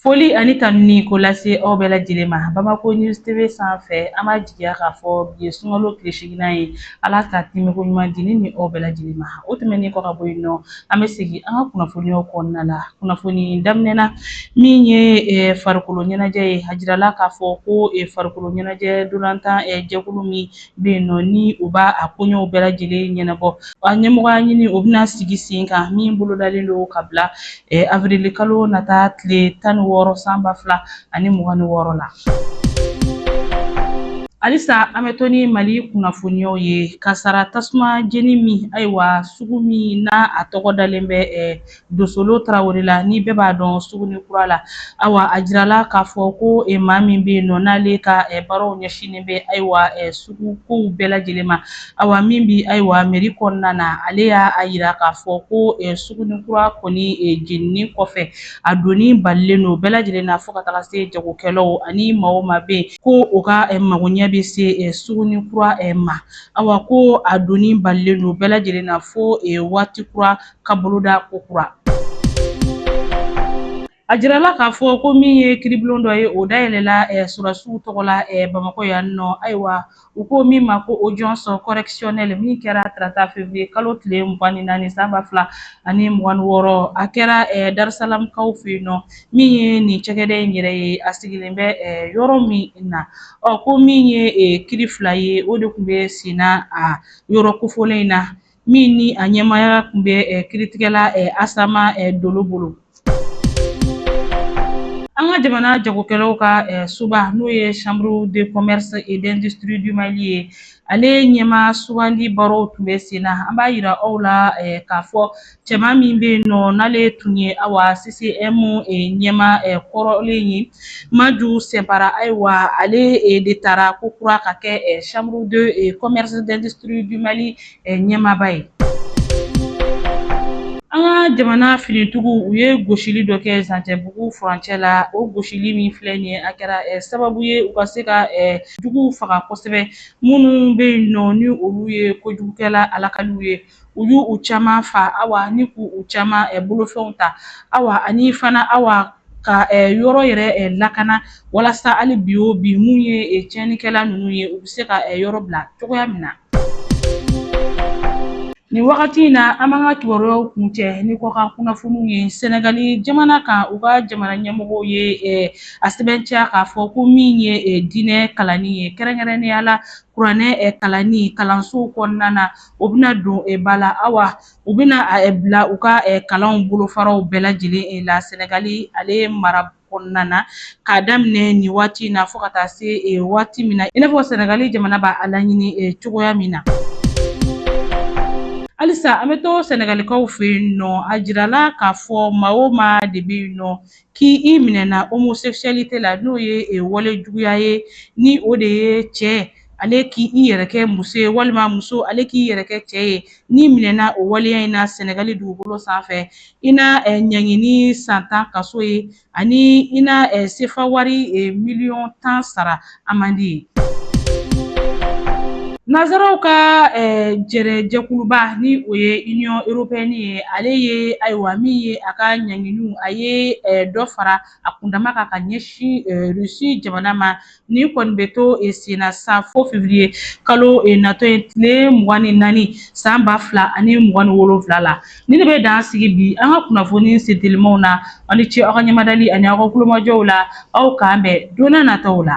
Foli ani tanuni k'o lase aw bɛɛ lajɛlen ma Bamako News TV sanfɛ an b'a jigiya k'a fɔ bi ye sunkalo tile seginnan ye Ala ka tɛmɛko ɲuman di ne ni aw bɛɛ lajɛlen ma o tɛmɛnen kɔ ka bɔ yen nɔ an bɛ segin an ka kunnafoniyaw kɔnɔna la kunnafoni daminɛ na min ye farikolo ɲɛnajɛ ye a jirala k'a fɔ ko farikolo ɲɛnajɛ ntolatan jɛkulu min bɛ yen nɔ ni u b'a a koɲɛw bɛɛ lajɛlen ɲɛnabɔ a ɲɛmɔgɔya ɲini o bɛna sigi sen kan min bolodalen don ka bila avrili kalo nata tile tan ni wɔɔrɔ san ba fila ani mugan ni wɔɔrɔ la. Halisa an bɛ to ni Mali kunnafoniyaw ye kasara tasuma jeni min ayiwa sugu min n'a a tɔgɔ dalen bɛ Dosolo Tarawele la ni bɛɛ b'a dɔn Sugunin kura la ayiwa a jirala k'a fɔ ko e maa min bɛ yen nɔ n'ale ka baaraw ɲɛsinnen bɛ ayiwa sugu kow bɛɛ lajɛlen ma ayiwa min bɛ ayiwa mɛri kɔnɔna na ale y'a a jira k'a fɔ ko Sugunin kura kɔni jenini kɔfɛ a donni balilen don bɛɛ lajɛlen na fo ka taga se jagokɛlaw ani maa o maa bɛ yen ko o ka mago ɲɛ bɛ se Sugunin kura ma ayiwa ko a donni balilen don bɛɛ lajɛlen na fo waati kura ka boloda ko kura. A jirala k'a fɔ ko min ye kiribulon dɔ ye o dayɛlɛla sɔrɔdasiw tɔgɔ la Bamakɔ yan nɔ ayiwa u ko min ma ko audience correctionnelle min kɛra tarata février kalo tile mugan ni naani san ba fila ani mugan ni wɔɔrɔ a kɛra Darusalamkaw fɛ yen nɔ min ye nin cakɛda in yɛrɛ ye a sigilen bɛ yɔrɔ min na ɔ ko min ye kiri fila ye o de tun bɛ senna a yɔrɔ kofolen in na min ni a ɲɛmaaya tun bɛ kiritigɛla Asama Dolo bolo. An ka jamana jagokɛlaw ka soba n'o ye Chambre de commerce et d'industrie du Mali ye, ale ɲɛmaa sugandi baaraw tun bɛ sen na. An b'a jira aw la k'a fɔ cɛma min bɛ yen nɔ n'ale tun ye awa CCIM ɲɛmaa kɔrɔlen ye, Maju Sɛnpara, ayiwa ale de taara ko kura ka kɛ Chambre de commerce d'industrie du Mali ɲɛmaaba ye an ka jamana finitigiw u ye gosili dɔ kɛ Zancɛbugu furancɛ la o gosili min filɛ nin ye a kɛra eh, sababu ye u ka se ka eh, juguw faga kosɛbɛ minnu bɛ yen nɔ ni olu ye kojugukɛla alakaliw ye u y'u u caman fa awa ni k'u u caman eh, bolofɛnw ta awa ani fana awa ka eh, yɔrɔ yɛrɛ eh, lakana walasa hali bi o bi min ye eh, tiɲɛnikɛla ninnu ye u bɛ se ka eh, yɔrɔ bila cogoya min na Nin wagati in na an b'an ka kibaruyaw kuncɛ ni kɔkan kunnafoniw ye Sɛnɛgali jamana kan u ka jamana ɲɛmɔgɔw ye a sɛmɛntiya k'a fɔ ko min ye diinɛ kalanni ye kɛrɛnkɛrɛnnenya la kuranɛ kalanni kalansow kɔnɔna na o bɛna don ba la awa u bɛna bila u ka kalanw bolofaraw bɛɛ lajɛlen la Sɛnɛgali ale mara kɔnɔna na k'a daminɛ nin waati in na fo ka taa se eh, waati min na i n'a fɔ sɛnɛgali jamana b'a a laɲini eh, cogoya min na halisa an bɛ to sɛnɛgalikaw fɛ yen nɔ a jirala k'a fɔ maa o maa de bɛ yen nɔ k'i i minɛna homosexualité la n'o ye eh, wale juguya ye ni o de ye cɛ ale k'i i yɛrɛ kɛ muso ye walima muso ale k'i yɛrɛ kɛ cɛ ye n'i minɛna o waleya in na sɛnɛgali dugukolo sanfɛ i na eh, ɲangini san tan kaso ye ani i na eh, sefa wari eh, miliyɔn tan sara amende ye Nazaraw ka eh, jɛrɛ jɛkuluba ni o ye Union européenne ye ale ye ayiwa min ye a ka ɲanginiw a ye eh, dɔ fara a kundama kan ka ɲɛsin eh, Russie jamana ma Nin kɔni bɛ to e senna sa fo février kalo e natɔ ye tile mugan ni naani san ba fila ani mugan ni wolonwula la nin de bɛ dan sigi bi an ka kunnafoni sentelimaw na aw ni ce aw ka ɲɛmadali ani aw ka tulomajɔw la aw k'an bɛn don nataw la